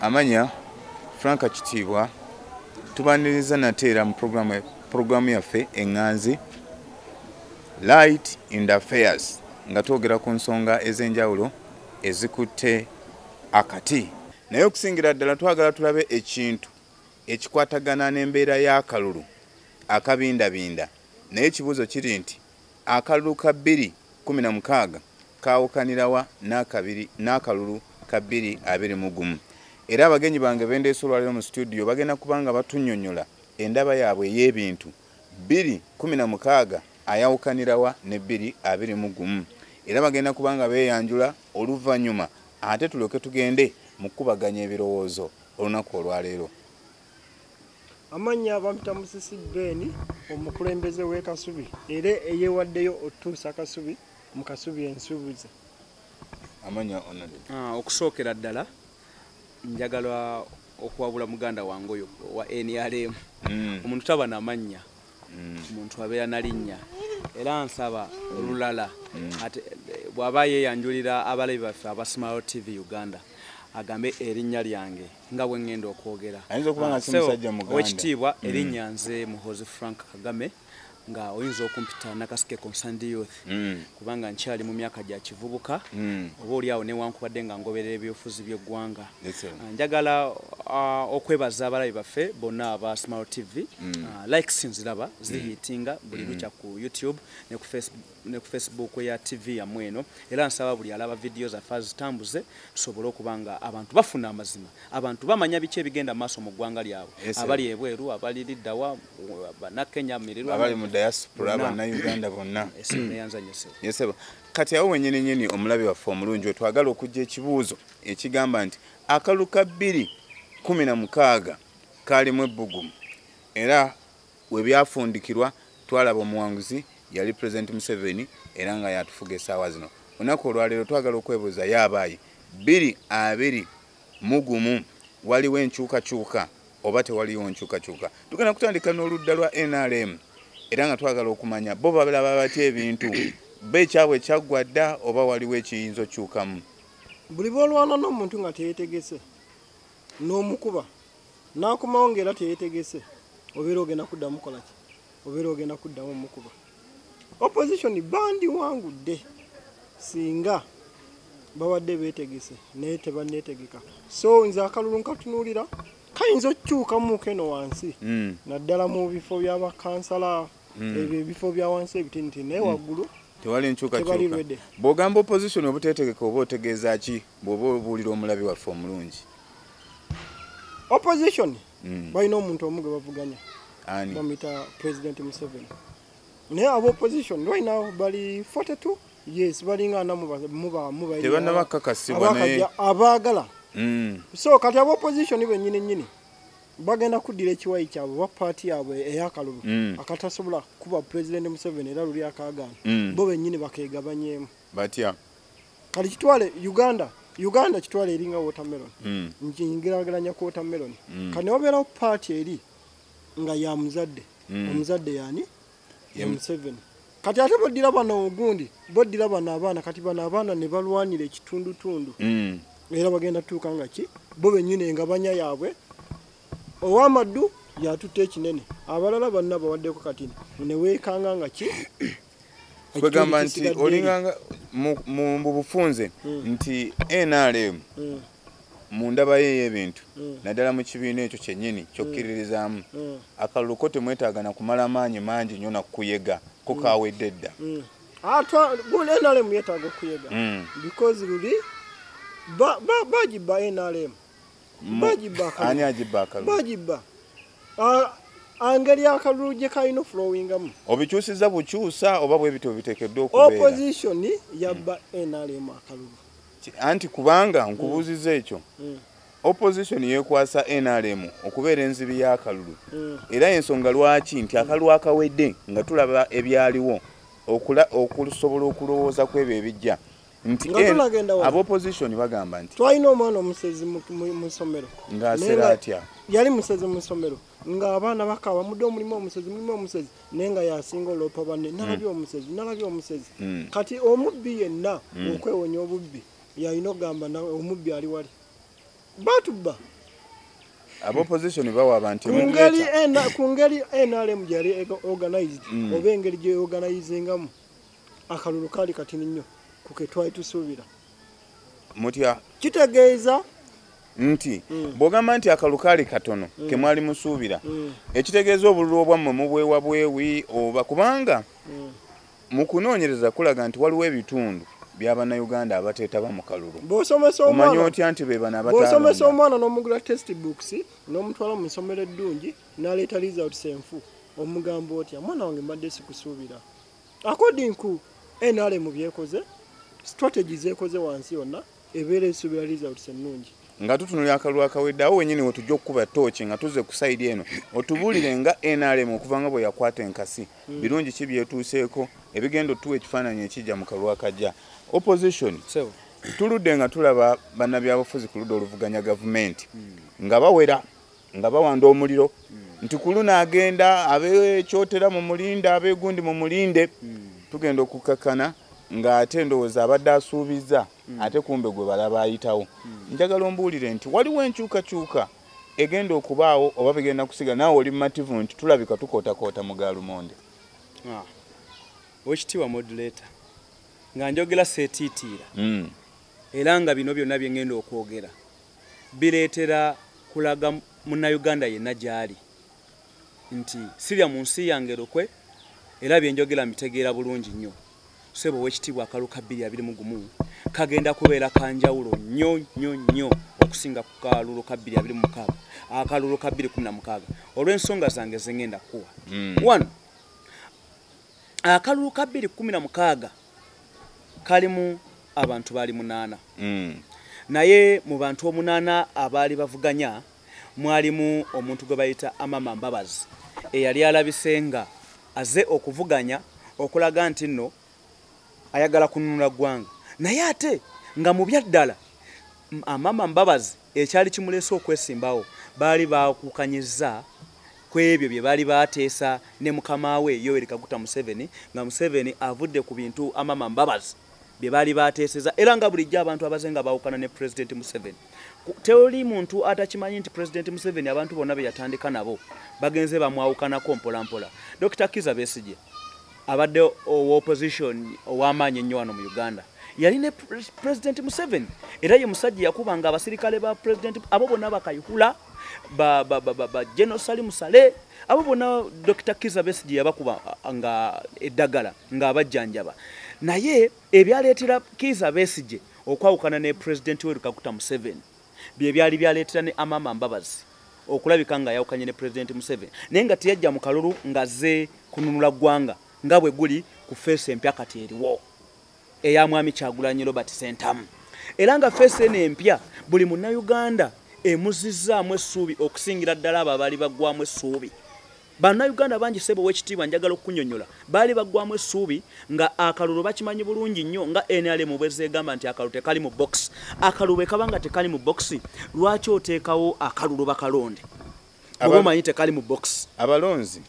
amanya frank kitiibwa tubaniriza nate era mu puroguramu yaffe eŋŋanzi light in the affairs nga twogera ku nsonga ez'enjawulo ezikutte akati naye okusingira ddala twagala tulabe ekintu ekikwatagana n'embeera y'akalulu akabindabinda naye ekibuuzo kiri nti akalulu ka bbiri kumi na mukaaga kaawukanirawa n'akabiri n'akalulu ka bbiri abiri mu gumu era abagenyi bange bendeesa olwaliro mu situdiyo bagenda kubanga batunnyonnyola endaba yaabwe ey'ebintu Bbiri kkumi na mukaaga ayawukanira wa ne bbiri abiri mu gumu? Era bagenda kuba nga beeyanjula oluvannyuma. Ate tulyoke tugende mu kukubaganya ebirowoozo olunaku olwaleero. Amannya bampita Musisi Ben, omukulembeze w'e Kasubi era eyeewaddeyo okutuusa Kasubi mu Kasubi ensuubuzi. Amannya Onade. Ah, okusookera ddala njagala okuwabula muganda wange oyo wa nrm mm. omuntu taba namannya mm. omuntu abeera nalinnya era nsaba mm. olulala ate bw'aba yeeyanjulira abalabi baffe aba smart tv uganda agambe erinnya lyange nga bwe ŋŋenda okwogera ah, owekitiibwa erinnya nze muhozi frank kagame nga oyinza okumpita nakasike concerned youth mm. kubanga nkyali mu myaka gya kivubuka mm. oba oli awo newankubadde nga ngoberera ebyofuzi byeggwanga ah, njagala uh, okwebaza abalabi baffe bonna aba smart tv mm. uh, ah, like sinziraba zihiitinga mm. buli lukya ku youtube ne ku facebook ne ku facebook ya tv yamwe eno era nsaba buli alaba vidiyo zaffe azitambuze tusobole okuba nga abantu bafuna amazima abantu bamanya biki ebigenda mu maaso mu ggwanga lyabwe abali ebweru abali liddawa banakenya mirirwaabali mu diaspora banauganda bonna eseneyanzanyeseba kati awo wenyini nyini omulabi waffe omulungi wetwagala okujja ekibuuzo ekigamba nti akalu ka bbiri kumi na mukaaga kaalimu ebbugumu era webyafundikirwa twalaba omuwanguzi yali president museveni era nga yatufuga esaawa zino olunaku olwaleero twagala okwebuuza ye abaayi biri abiri mugumu waliwo enkyukakyuka oba tewaliwo nkyukakyuka tugenda kutandika n'oludda lwa nrm era nga twagala okumanya bo balaba batya ebintu be ekyabwe kyaggwa dda oba waliwo ekiyinza okyukamu buli bwolwana n'omuntu nga teyetegese n'omukuba nakomawo ngaera teyetegese obeera ogenda kuddamu mukolaki obeera ogenda kuddamu mukuba opposition bandi wangudde singa babadde betegese naye tebanetegeka so nze akalulu nkatunuulira kayinza okukyukamuuko eno wansi hmm. naddala mu bifo byabakansala hmm. ebyo ebifo bya wansi ebitiniti naye hmm. waggulu tewali nkyukakyuka bwogamba opposition obutetegeka oba otegeeza ki bwoba obuulira omulabi waffe omulungi opposition mm. balina omuntu omu gwe bavuganya bamuyita president museveni naye aba opposition right now bali 42 yes balinga ana mubaabagala mm. so kati aba opposition benyini nyini bagenda kuddira ekiwayi kyabwe oba paati yabwe eyakalulu mm. akatasobola kuba president museveni era luli akagaana bo benyini bakegabanyeemu batya kati kitwale uganda uganda kitwale eringa watermelon mm. njingirageranya ku watermelon mm. kati newabeerawo paati eri nga ya muzadde mm. omuzadde yani ya museveni kati ate boddira bano ogundi boddira bano abaana kati bano abaana ne balwanira ekitundutundu mm. era bagenda tuuka nga ki bo benyini engabanya yaabwe owamaddu yatutte ekinene abalala banna bawaddeko kati neweekanga nga ki kwegamba nti olinganga mu bufunze hmm. nti nrm hmm. mu ndaba ye ey'ebintu hmm. naddala mu kibiina ekyo kyennyini kyokkiririzaamu akalulu ko temwetaaga na kumala maanyi mangi nnyo nakukuyega ko kawedde dda ah, nrm yetaaga okuyega because luli bagiba nrm ani agibba akalulu angeri akalulu gye kalina ofulowingamu obikyusiza bukyusa oba bwebiti obitekeddwa okubeeraopposition yabba nrm akalulu anti kubanga nkubuuziza ekyo mm. Mm. opposition yekwasa nrm okubeera enzibi y'akalulu mm. era ensonga lwaki nti akalulu akawedde nga tulaba ebyaliwo okusobola okulowooza ku ebyo ebijja nti aba opposition bagamba nti twalina omwana omusezi mu ssomero ngaasera atya yali musezi mu ssomero ng'abaana bakaba mudde omulimu omusezi mulimu omusezi naye nga yasinga oloopa banne hmm. nalabye omusezi nalabye omusezi hmm. kati omubbi yenna hmm. okwewonya obubbi yalina okugamba nawe omubbi ali wali batubba abopposition bawa abantu ku ngeri nrm gyeyali organized oba engeri gyeorganizingamu akalulu kaali katini nnyo ku ke twali tusuubira mutya kitegeeza nti mm. bwogamba nti akalukaali katono mm. kemwali musuubira mm. ekitegeeza obululu obwammwe mubwewa bwewi oba kubanga mm. mu kunoonyereza kulaga nti waliwo ebitundu byabanauganda abateetaba mu kalulu omanya otya nti bebano abaosomesa omwana n'omugula test books n'omutwala mu nsomero eddungi naleeta results enfu omugambo otya mwana wange mbadde sikusuubira according ku nrm byekoze strategy zekoze wansi yonna ebeera esuubira results ennungi nga tutunula akalulu akawedde awo wenyini wetujja okukuba tooki nga tuze kusaidi eno otubuulire nga nrm okuva nga bwe yakwata enkasi hmm. birungi ki byetuuseeko ebigenda otuwa ekifaananyi ekijja mu kalulu akajja opposition tuludde nga tulaba bannabyabufuzi ku ludda oluvuganya gavumenti hmm. nga bawera nga bawanda omuliro nti kuluna agenda abekyotera mu mulinde abegundi mu mulinde tugenda okukakkana ng'ate endowooza abadde asuubizza ate kumbe gwe balaba ayitawo njagala ombuulire nti waliwo enkyukakyuka egenda okubaawo oba bigenda kusiga naawe oli mumativu nti tulabika tukootakoota mu gaalumonde ah. wekitiibwa modulator nga njogera seetiitiira hmm. era nga bino byonna bye ŋŋenda okwogera bireetera kulaga munnayuganda yenna gy'ali nti sirya mu nsi yange lukwe era bye njogera mbitegeera bulungi nnyo sebo ow'ekitiibwa akalu ka bbiri abiri mu gumu kagenda kubeera ka njawulo nnyo nnyo nnyo okusinga ku kalulu ka bbiri abiri mu mukaaga akalulu ka bbiri kumi na mukaaga olw'ensonga zange ze ngenda kukuwa hmm. wano akalulu ka bbiri kumi na mukaaga kalimu abantu baali munaana mm. naye mu bantu omunaana abaali bavuganya mwalimu omuntu gwe bayita amama mbabazi eyali alabise nga aze okuvuganya okulaga nti nno ayagala kununula ggwanga naye ate nga mu byaddala Amama Mbabazi ekyali kimuleese okwesimbawo baali baakukanyizza ku ebyo bye baali baateesa ne mukama we Yoweri Kaguta Museveni nga Museveni avudde ku bintu Amama Mbabazi bye baali baateeseza era nga bulijjo abantu abaze nga baawukana ne Pulezidenti Museveni. Tewali muntu atakimanyi nti Pulezidenti Museveni abantu bonna be yatandika nabo bagenze bamwawukanako mpolampola. Dokita Kizza Besigye. abadde owa opposition ow'amaanyi ennyo wano mu uganda yali ne president museveni era ye musajja yakubanga abasirikale ba president abo bonna bakayihula ba, ba, ba, ba, ba general salimu sale abo bonna dr kiza besigi yabakuba nga eddagala ng'abajjanjaba naye ebyaleetera kiza besigi okwawukana ne president we lukakuta museveni bye byali byaleetera ne amama mbabazi okulabika nga yawukanye ne pulezidenti museveni naye nga teyajja mu kalulu ng'azze kununula ggwanga nga bwe guli ku feesi empya kati eriwo eya mwami kyagulanyi robert sentamu era nga feesi eno empya buli munnayuganda emuzizzaamu essuubi okusingira ddala abo abaali baggwamu essuubi Bannayuganda bangi ssebo ow'ekitiibwa njagala okukunyonyola baali baggwamu essuubi nga akalulu bakimanyi bulungi nnyo nga NRM bwezeegamba nti akalulu tekali mu box akalulu bwe kaba nga tekali mu box lwaki oteekawo akalulu bakalonde oba omanyi tekali mu box abalonzi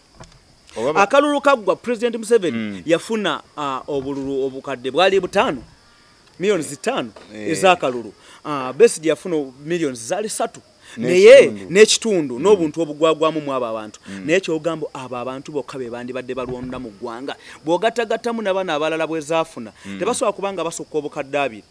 akalulu kaggwa president museveni mm. yafuna uh, obululu obukadde bwali butaano millioni zitaano eh. ez'akalulu uh, besidi yafuna millioni zaali satu naye n'ekitundu mm. n'obuntu obugwagwamu mu abo abantu mm. naye kyogamba abo abantu bokka be bandibadde balwonda mu ggwanga bw'ogatagattamu nabano abalala bwe zaafuna mm. tebasobola kuba nga basukka obukadde abiri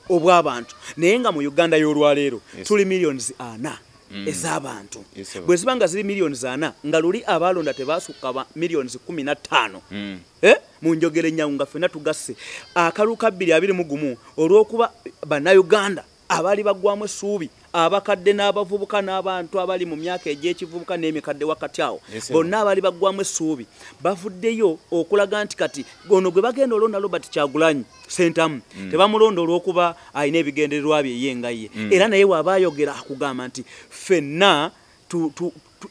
obw'abantu naye nga mu uganda y'olwaleero tuli millions ana Mm. ez'abantu bwe ziba nga ziri miliyoni zana nga luli abaalonda tebasukka miliyoni kumi na ttaano mm. eh? mu njogera ennyangu nga ffenna tugasse akalu kabbiri abiri mu gumu olw'okuba bannayuganda abaali baggwamu essuubi abakadde n'abavubuka n'abantu abali mu myaka egy'ekivubuka n'emikadde wakati awo bonna abaali baggwamu essuubi bavuddeyo okulaga nti kati ono gwe bagenda olonda robert kyagulanyi sentamu mm. tebamulonda olw'okuba alina ebigendererwa bye ye nga ye mm. era naye waaba ayogera akugamba nti ffenna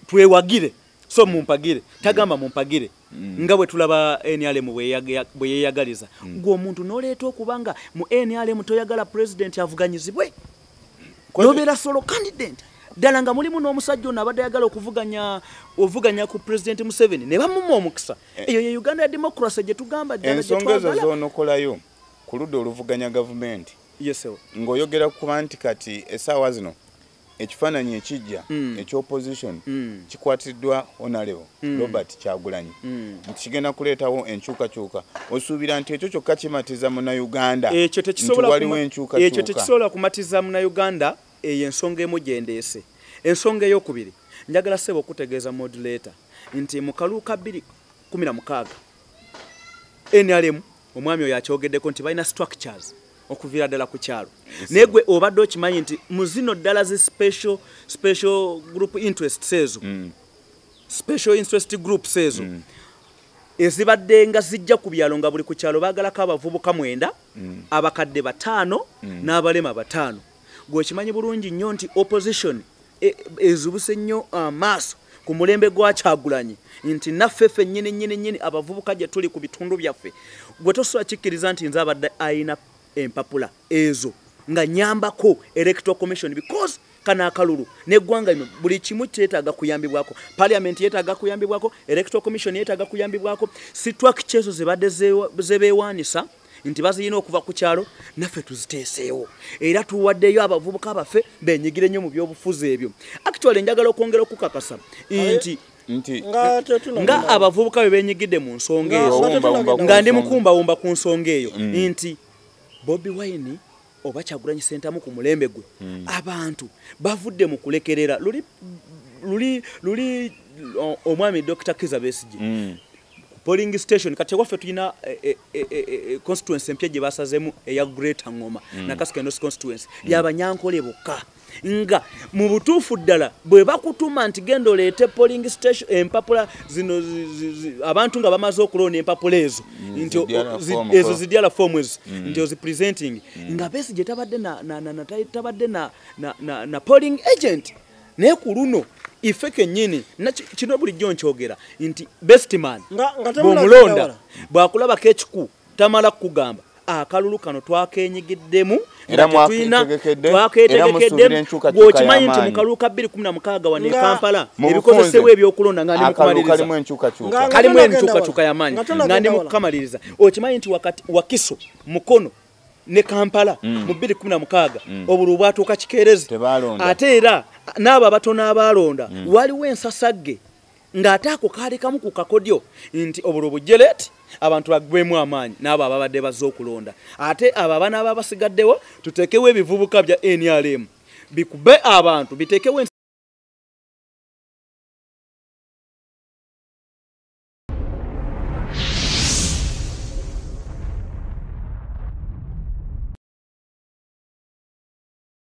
twewagire so mumpagire tagamba mumpagire mm. nga bwe tulaba nrm bwe yeeyagaliza mm. gwe omuntu n'oleeta okuba nga mu nrm toyagala pulezidenti avuganyizibwe nobeera solo candident ddala nga mulimu n'omusajja ono abadde ayagala okuvuganya ovuganya ku pulezidenti museveni ne bamuma omukisa eh. eyo ye uganda ya democracy gye tugamba ensonga ezo zoonokolayo ku ludda oluvuganya gavumenti ng'oyogera kuba nti kati esaawa zino ekifaananyi ekijja mm. ekyopposition mm. kikwatiddwa onalevo mm. robert kyagulanyi mm. nti kigenda kuleetawo enkyukakyuka osuubira nti ekyo kyokka kimatiza munauganda nti waliwo enkyukakyuka ekyo tekisobola kumatiza munauganda eyo ensonga emu gyendeese ensonga eyokubiri njagala seeba okutegeeza modulator nti mu kaluuka 216 nrm omwami oyo akyogeddeko nti balina structures okuviira ddala ku kyalo naye gwe obadde okimanyi nti mu zino ddala zi special special group interests ezo mm. special interest groups ezo mm. ezibadde nga zijja ku byalo nga buli ku kyalo baagalako abavubuka mwenda mm. abakadde bataano mm. n'abalema bataano gwe okimanyi bulungi nnyo nti opposition e, ezubuse nnyo amaaso uh, ku mulembe gwakyagulanyi nti naffe ffe nyini nyini nyini abavubuka gye tuli ku bitundu byaffe gwe tosobola kikkiriza nti nze abadde ayina empapula ezo nga nyambako electoral commission because kana akalulu neggwanga lino buli kimu kyetaaga kuyambibwako parliament yetaaga kuyambibwako electoral commission yetaaga kuyambibwako situakikyezo zebadde zebeewaanisa nti bazirina okuva ku kyalo naffe tuziteeseewo era tuwaddeyo abavubuka baffe benyigire nnyo mu byobufuzi ebyo actually njagala okwongera okukakasa nti nti nga abavubuka bwe benyigidde mu nsonga eyo nga ndi mukumbawumba ku nsonga eyo mm. nti bobi wine oba kyagulanyi sentamu ku mulembe gwe mm. abantu bavudde mu kulekerera luli luli luli omwami dr kiza besigi mm. polling station kati waffe tulina eh, eh, eh, constituency empya gye basazemu eya greater ngoma mm. nakasukendo constituency mm. yabanyankole bokka nga mu butuufu ddala bwe bakutuma nti genda oleete polling station empapula zino abantu nga bamaze okuloona empapula ezo mm, nti ezo zidyala foomu ezo mm. nti ozipresenting mm. nga besi gye tabadde tabadde na polling agent naye ku luno ife kenyini kino bulijjo nkyogera nti bestman bwomulonda bwakulabako ekiku tamala kugamba akalulu kano twakenyigiddemu twaketegekeddemwokimanyi nti mukalulu ka 216 wano ekampala ebikozesebwa ebyokulonda nga ndimukalimu enkyukakyuka yamaanyi nga ndi mukukamaliriza okimanyi nti wakiso mukono ne kampala mm. mu 216 mm. obuli obwatuuka kikeerezi ate era n'abo abatono abaalonda mm. waliwo ensasagge ng'ate ako kaali kamu ku kakodyo nti obulwo bujjeleeti abantu bagwemu amaanyi n'abo ababadde bazze okulonda ate abo abaana aba basigaddewo tuteekewo ebivubuka bya nrm bikube abantu biteekewo